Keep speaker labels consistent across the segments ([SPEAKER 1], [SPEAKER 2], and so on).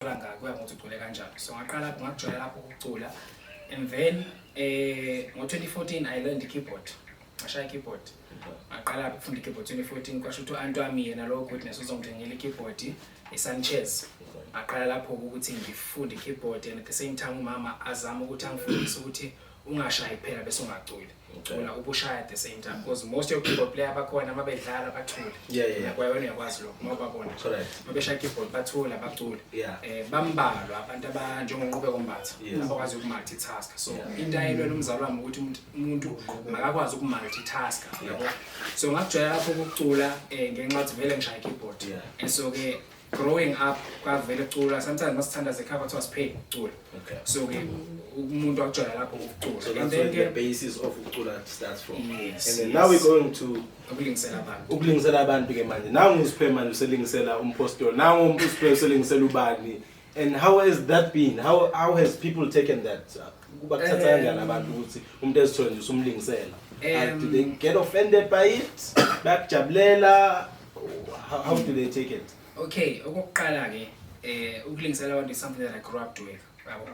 [SPEAKER 1] ukuthola ngaka kuya ngokuthi ucule kanjani so ngaqala ngakujola lapho ukucula and then eh ngo-2014 i learned keyboard ngashaya keyboard ngaqala ukufunda keyboard 2014 kwasho ukuthi u-anti wami yena lowo goodness uzongithengela ikeyboard i-sanchez ngaqala lapho ukuthi ngifunde keyboard and at the same time umama azama ukuthi angifundise ukuthi ungashayi kuphela bese ungaculi ucula ubushaya at the same time because most of keyboard player bakhona uma bedlala bathule kwayona uyakwazi
[SPEAKER 2] lokho uma
[SPEAKER 1] babona uma beshaya keyboard bathule abacule eh
[SPEAKER 2] bambalwa abantu
[SPEAKER 1] abanjengonqube kombatha abakwazi ukumultitask so into ayelwela umzali wami ukuthi umuntu makakwazi ukumultitask yabo so ngakujwayela lapho ukucula eh ngenxa ukuthi vele ngishaya keyboard and so ke growing up kwavele kucula sometimes masithanda zekhaya kwathiwa sipheli kucula okay so ke umuntu akujwayela lapho ukucula so and then the basis
[SPEAKER 2] of ukucula starts from yes, and then yes. now we
[SPEAKER 1] going to
[SPEAKER 2] ukulingisela abantu ukulingisela
[SPEAKER 1] abantu ke manje
[SPEAKER 2] nangu usiphe manje uselingisela umpostoli nangu usiphe uselingisela ubani and how has that been how how has people taken that kuba kuthatha kanjani um, abantu ukuthi umuntu ezithole nje usumlingisela um, do they get offended by it bakujabulela how, how do they take it okay okokuqala
[SPEAKER 1] ke eh ukulingisela abantu is something that i grew up doing yabo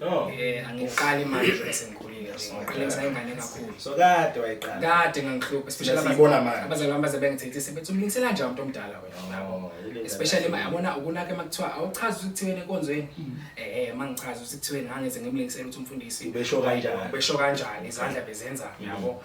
[SPEAKER 1] no
[SPEAKER 2] eh angiqali
[SPEAKER 1] manje nje sengikhulile ngiqalisa ingane kakhulu so kade wayiqala
[SPEAKER 2] kade ngangihlupha
[SPEAKER 1] especially Siyibona manje. abazali bami baze bengithethise bethi umlingisela njani umuntu omdala wena yabo Oh, yile ndaba. especially ma yabona ukunaka uma kuthiwa awuchazi ukuthi kuthiweni enkonzweni eh uma ngichaza ukuthi kuthiweni ngangeze ngimlingisela ukuthi umfundisi Ubesho kanjani? ubesho
[SPEAKER 2] kanjani izandla
[SPEAKER 1] bezenza yabo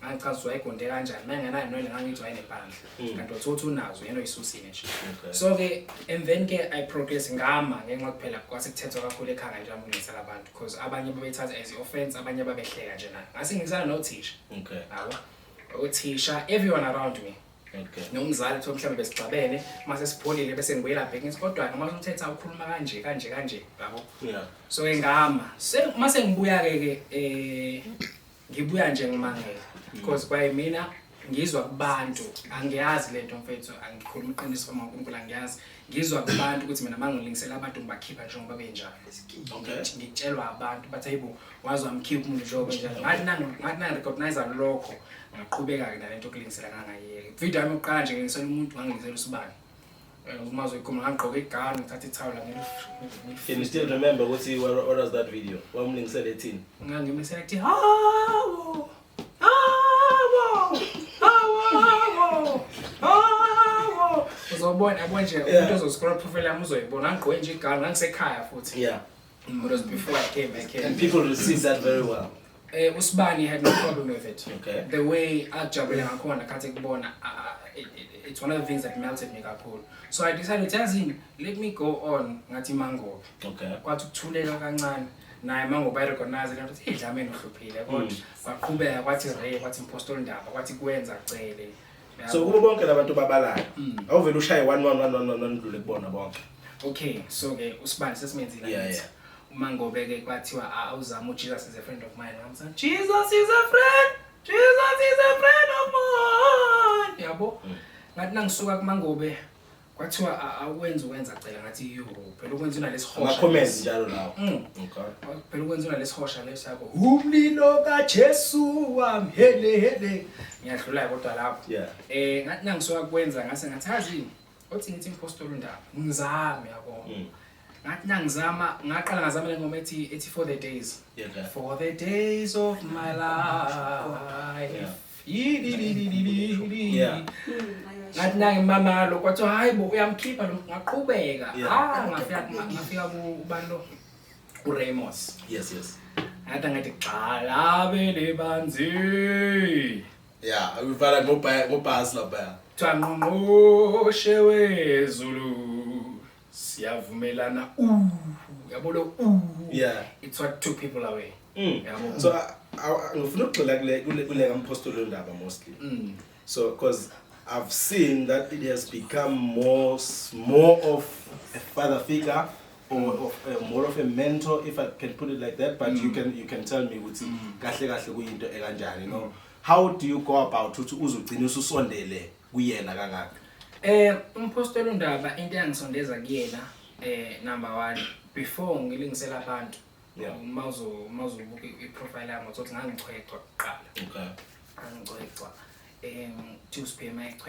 [SPEAKER 1] ngangichaza wayegonde kanjani uma engenayo nwele ngangithi wayenempandla hmm. kanti othe uthi unazo yena oyisusile nje so-ke emveni ke i progress ngama ngenxa kuphela kwase kuthethwa kakhulu ekhanga nje amulisa labantu because abanye babethatha as i-offense abanye babehleka nje nayo ngase ngizana nothisha
[SPEAKER 2] yabo
[SPEAKER 1] uthisha everyone around me nomzali
[SPEAKER 2] kuthiwa mhlawumbe
[SPEAKER 1] besigcabene uma sesipholile bese ngibuyela bheki ngithi kodwa-ke uma somthetha ukhuluma kanje kanje kanje yabo so-ke
[SPEAKER 2] ngama
[SPEAKER 1] uma sengibuya-ke ke um ngibuya nje ngimangele because kwaye mina ngizwa kubantu angiyazi lento mfethu angikhuluma iqiniso kama uNkulunkulu angiyazi ngizwa kubantu ukuthi mina mangilingisela abantu ngibakhipha njengoba benjalo
[SPEAKER 2] ngitshelwa abantu
[SPEAKER 1] bathi hayibo wazi wamkhipha umuntu njengoba enjalo ngathi nangu ngathi nangu recognize lokho ngaqhubeka ke nalento okulingisela ngangayeke video yami yokuqala nje ngilingisela umuntu ngangilingisela usibani Eh, umazi uyigoma ngangigqoke igani ngithatha ithawula Can you
[SPEAKER 2] still remember ukuthi what, what was that video? Wamlingisele ethini? ngangimesela kuthi
[SPEAKER 1] hawo hawo hawo hawo uzobona yabo nje Yeah. umuntu ozoscroll profile yami uzoyibona ngangigqoke nje igani ngangisekhaya futhi Yeah. it was
[SPEAKER 2] before
[SPEAKER 1] I came back here And people received that
[SPEAKER 2] very well. Eh uSibani had
[SPEAKER 1] no problem with it. Okay. The way
[SPEAKER 2] ajabule
[SPEAKER 1] ngakhona khathi kubona it's one of the things that melted me kakhulu. So I decided yazini let me go on ngathi mango. Okay. Kwathi
[SPEAKER 2] ukuthuleka
[SPEAKER 1] kancane naye mango ba recognize lento ukuthi idlameni uhluphile kodwa kwaqhubeka kwathi re kwathi impostol ndaba kwathi kwenza cele. so kubo bonke
[SPEAKER 2] labantu babalayo mm. awuvele ushaye one one one one one ndlule kubona bonke okay so
[SPEAKER 1] ke usibani sesimenzile yeah, yeah. uma
[SPEAKER 2] ngobe ke
[SPEAKER 1] kwathiwa awuzama uJesus is a friend of mine ngamsa Jesus is a friend Jesus is a friend of mine yabo mm. ngathi nangisuka kumangobe Kwathiwa a- awukwenzi ukwenza cela ngathi yo phela ukwenza unalesihosha. Ama-comments lesi. njalo lawo.
[SPEAKER 2] Mm. Okay. Phela
[SPEAKER 1] ukwenza unalesihosha lesakho. Umlilo kaJesu wami hele hele. Ngiyadlula kodwa lapho. Yeah. Eh ngathi nangisoka
[SPEAKER 2] kwenza
[SPEAKER 1] ngase ngathi hazi othi ngithi impostoli undaba. Ngizame yabo. Mm. ngathi nangizama ngaqala ngazama le ngoma ethi ethi for the days yeah, yeah. for the
[SPEAKER 2] days
[SPEAKER 1] of my life
[SPEAKER 2] yeah. ngathi
[SPEAKER 1] nange mamalo kwathiwa hayi bo uyamkhipha lo ngaqhubeka ah ngafika ngafika kubani lo uramos yes yes
[SPEAKER 2] ngathi ngathi
[SPEAKER 1] gxala bele banzi ya
[SPEAKER 2] uvala ngobhasi lapha kuthiwa ngqongqoshe
[SPEAKER 1] wezulu siyavumelana uh yabo lo uh yeah
[SPEAKER 2] it's what two people
[SPEAKER 1] away mm. yabo so
[SPEAKER 2] ngifuna ukugxila kule kule kule kampostoli ondaba mostly mm. so because I've seen that it has become more more of a father figure or of, uh, more of a mentor if I can put it like that but mm. you can you can tell me ukuthi mm. kahle kahle kuyinto ekanjani no how do you go about ukuthi uzugcina ususondele kuyena kangaka eh umpostoli
[SPEAKER 1] uNdaba into eyangisondeza kuyena eh number 1 before ngilingisela abantu yeah uma uzo
[SPEAKER 2] uma uzobuka
[SPEAKER 1] iprofile yami uzothi ngangichwechwa kuqala okay angicwechwa
[SPEAKER 2] em
[SPEAKER 1] to sphere my chwechwa